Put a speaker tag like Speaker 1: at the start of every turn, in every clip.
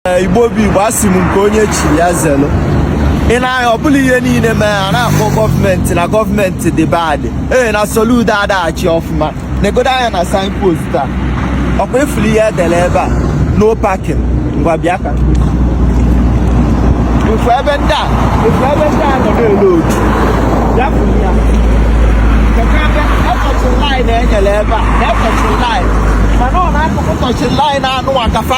Speaker 1: igbo bụ igbo asị m nke onye chi ya zelu ị na-anya ọ bụla ihe niile mee a na-akpọ gọọmenti na gọọmenti dị bad ee na soludo adaghị achị ọfụma negodo anya na signpost a ọkwa ị fụrụ ihe e dere ebe a no parking ngwa bịa ka ị fụ ebe ndị a ị fụ ebe ndị a nọ na-ele otu ya fụrụ ya ekọchị line e nyere ebe a ekọchị line mana ọ na-akụkụ touch line anụ akafa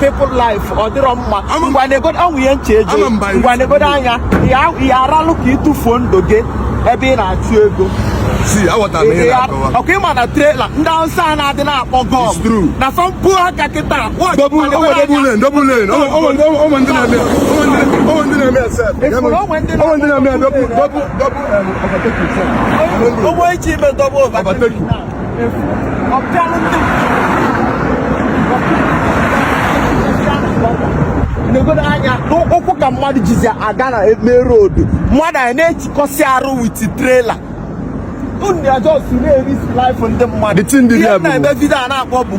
Speaker 1: people life ọ dịrọ mma ngwa negodo ọnwụ ihe nche ejo ngwa negodo anya ya aralụ ka ị tụfuo ndụ gị ebe ị na-achụ ego
Speaker 2: ọkwa ị ma na
Speaker 1: trailer ndị awụsa a na-adị na-akpọ gọm na
Speaker 2: fọmpụ
Speaker 1: aka kịta o nwe e ji
Speaker 2: ime dọbụ
Speaker 1: efu ọpịalụ ndị negodo anya n'ụkwụ ka mmadụ jizi aga na main road mmadụ a na-echikọsị arụ with trailer unu a just na-erisk life ndị mmadụ The thing dị Ihe there bụ- na-eme vidio a na-akpọ bụ